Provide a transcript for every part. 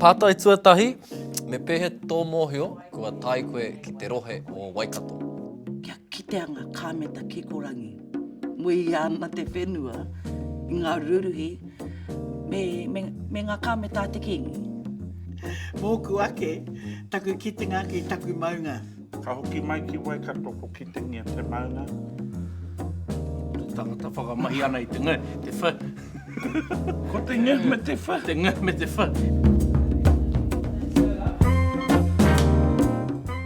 Pātai tuatahi, Me pēhea tō mōhio kua tae koe ki te rohe o Waikato? Kia kitea ngā kāmeta kikorangi. Muia ana te whenua i ngā ruruhi me, me, me ngā kāmeta a te Kīngi. Mōku ake, taku kitenga ki taku maunga. Ka hoki mai ki Waikato ko Kitengia te maunga. Tangata whakamahi ana i te, te wha. Ko te ngeh me te wha. Te ngeh me te wha.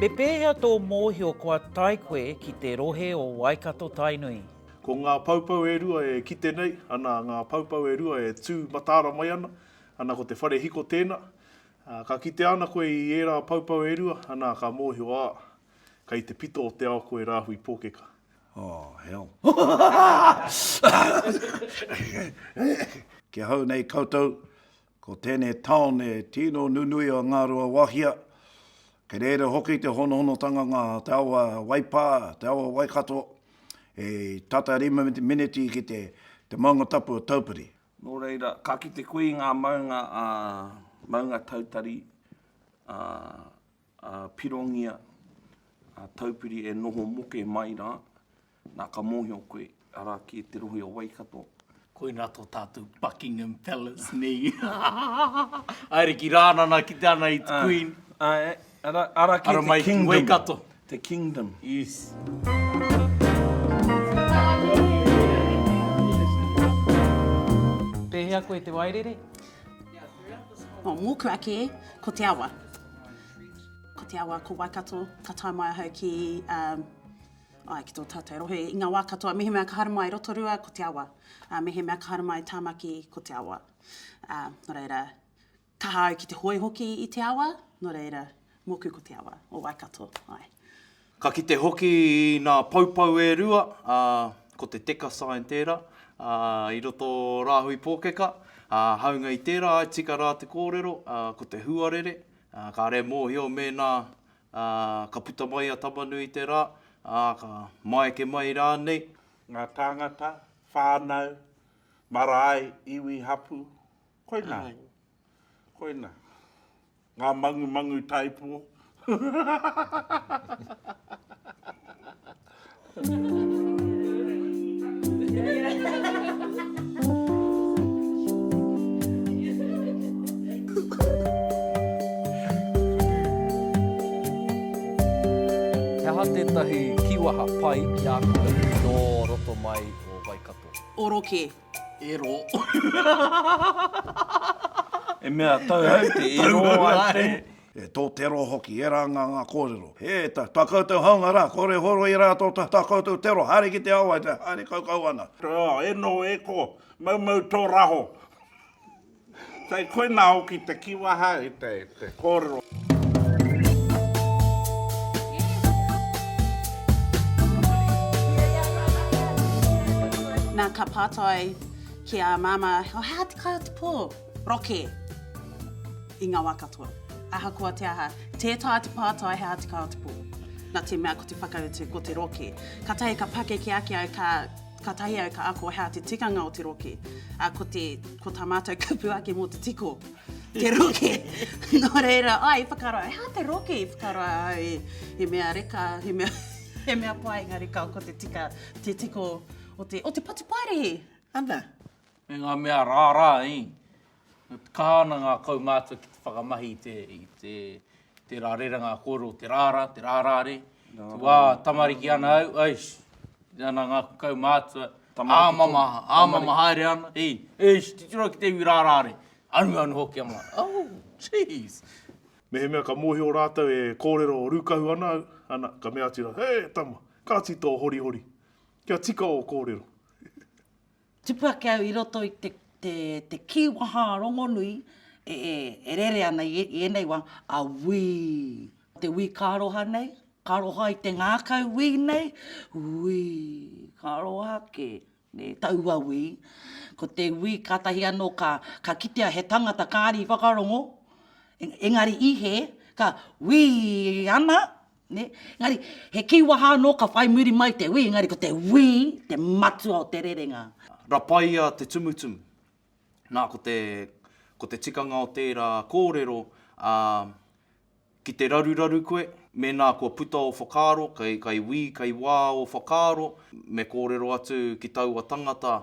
Me pēhea tō mōhio kua tae koe ki te rohe o Waikato-Tainui? Ko ngā poupou e rua e kite nei, ana ngā poupou e rua e tū mataara mai ana, ana ko te whare hiko tēnā. Ka kitea ana koe i ērā poupou e rua, ana ka mōhio, ā, kei te pito o te ao koe rāhui pōkeka. Oh, hell. Kia hau nei koutou, ko tēnei taone tino nunui o Ngāruawāhia. Kei reira hoki te honohonotanga ngā te awa Waipā, te awa Waikato, e tata rima miniti ki te, te maunga tapu o Taupiri. Nō reira, ka kite koe i ngā maunga, ā, maunga tautari, ā, a Pirongia, a Taupiri e noho moke mai rā, nā ka mōhio koe, arā kē te rohe o Waikato. Koinā tō tātou Buckingham Palace nei. Haere ki Rānana ki te ana i te Queen. Ā, ā, ara, ara kē te kingdom. Waikato. Te kingdom. Yes. Pēhea koe te wairere? Mō Kura kē, ko te awa. Ko te awa ko Waikato, ka tae mai ahau ki, um, ai, ki tō tātou rohe, i ngā wā katoa, mehemea ka haere mai i Rotorua, ko te awa. Uh, mehemea ka haere mai i Tāmaki, ko te awa. Uh, nō reira, kaha au ki te hoe hoki i te awa, nō reira, mōku ko te awa o Waikato, ai. Ka kite hoki i nā poupou e rua, ā, ko te teka sign tērā, ā, i roto o Rāhui Pōkeka, ā, hāunga i tērā I tika rā te kōrero, ā, ko te huarere, ā, kāre e mōhio mēnā, ā, ka puta mai a Tamanui i te rā, ā, ka maeke mai rānei. Ngā tāngata, whānau, marae, iwi, hapū, koinā. Koina, ngā mangumangu taipō. He aha tētahi kīwaha pai ki a koe nō roto mai o Waikato? Oroke, Ero. E mea tau au te ero ai te. E tō te ro hoki, e rā ngā ngā kōrero. He ta, ta koutou haunga rā, kore horo i rā tō ta, ta koutou te ro, haere ki te awa, haere kaukau ana. Rā, e nō, e ko, maumau tō raho. Kei koina hoki te kiwaha i te kōrero. Nā, ka pātai ki a Māmā, oh, hā te kai o te pō? Roke! I ngā wā katoa. Ahakoa te aha, tē taea te pātai hā te kai o te pō. Nā te mea ko te whakautu, ko te roke. Kātahi ka pakeke ake au, ka. Katahi au ka ako hea te tikanga o te roke, a, ko te, ko ta matou kupu ake mo te tiko, te roke. No reira, ai i whakaro, he aha te roke? I whakaro au e, he mea reka, he mea, he mea paenga reka ko te tika, te tiko o te, o te patu paerehe. Ana. me ngā mea rārā, ī. E kaha ana ngā kaumātua ki te whakamahi i te, i te, i tērā rerenga kōrero, te rārā, te rārāre. Te wā tamariki ana au, eish, tīmata ana ngā kaumātua, āmama, āmama haere ana, ī, eish, titiro ki te iwi rārāre, anuanu hoki ana, oh, geez! Mehemea ka mōhio rātou e kōrero rūkahu ana au, ana, ka mea atu rātou, He, tama, kāti tō horihori, kia tika ō kōrero. Tupu ake au i roto i te, te, te kīwaha rongonui e, e, e rere ana i, i ēnei wā, a wī. Te wī ka aroha nei, ka aroha i te ngākau wī nei, wī, ka aroha ake, nē, taua wī. Ko te wī kātahi anō ka, ka kitea he tangata kāri i whakarongo, engari i hē, ka wī ana, Nē? Engari, he kīwaha anō ka whai muri mai te wī, engari ko te wī te matua o te rerenga. Rapaia te tumutumu. Nā, ko te, ko te tikanga o tērā kōrero, ā, ki te raruraru koe, mēnā kua puta ō whakaaro, kei, kei wī, kei wā ō whakaaro, me kōrero atu ki taua tangata,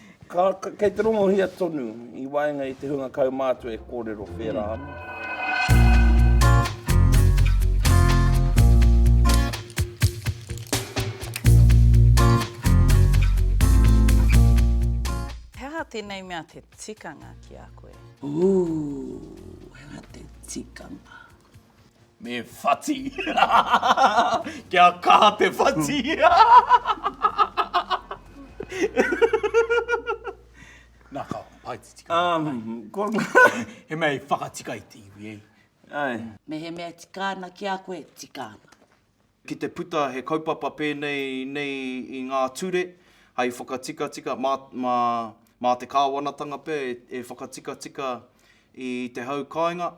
Kei te rongohia tonu i waenga i te hunga kaumātua e kōrero whērā ana. He aha tēnei mea te tikanga ki a koe? Ooh, he aha te tikanga? Me whati. Kia kaha te whati. Nā ka paititika. Um, ko... he mea i whakatika i te iwi, ei. Ai. Me he mea tika ana ki a koe, tika ana. Ki te puta he kaupapa pēnei nei i ngā ture hai whakatikatika, mā, mā, mā te Kāwanatanga pea e, e whakatikatika i te hau kāinga,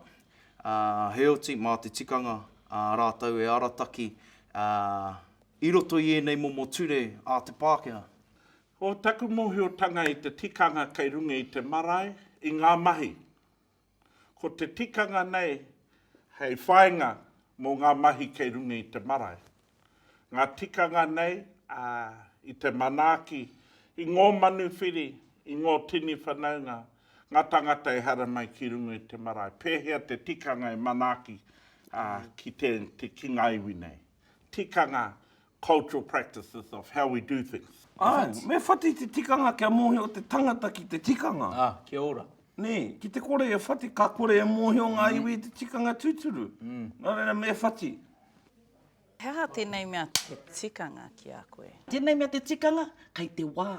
ā, heoti, mā te tikanga, ā rātou e arataki, ā, i roto i ēnei momo ture a te Pākehā. Ko taku mōhiotanga i te tikanga kei runga i te marae, i ngā mahi. Ko te tikanga nei hei whainga mo nga mahi kei runga i te marae. Nga tikanga nei i te manaaki i ngo manuwhiri, i ngo tini whanaunga, nga tangata e haramai ki runga i te marae. Pehea te tikanga e manaaki ki te ki nga iwi nei? Tikanga cultural practices of how we do things. Āe, me whati te tikanga kia mōhio te tangata ki te tikanga. Ā, kia ora. Nē, ki te kore e whati, ka kore e mōhio ngā iwi i te tikanga tūturu. Nā reira, me whati. He aha tēnei mea te tikanga ki a koe? Tēnei mea te tikanga, kei te wā.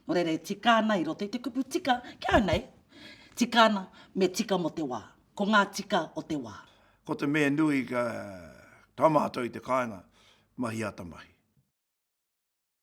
Nō reira e tika ana i roto i te kupu tika, kia au nei, tika ana, me tika mō te wā. Ko ngā tika o te wā. Ko te mea nui ka tamato i te kāinga, mahi ata mahi.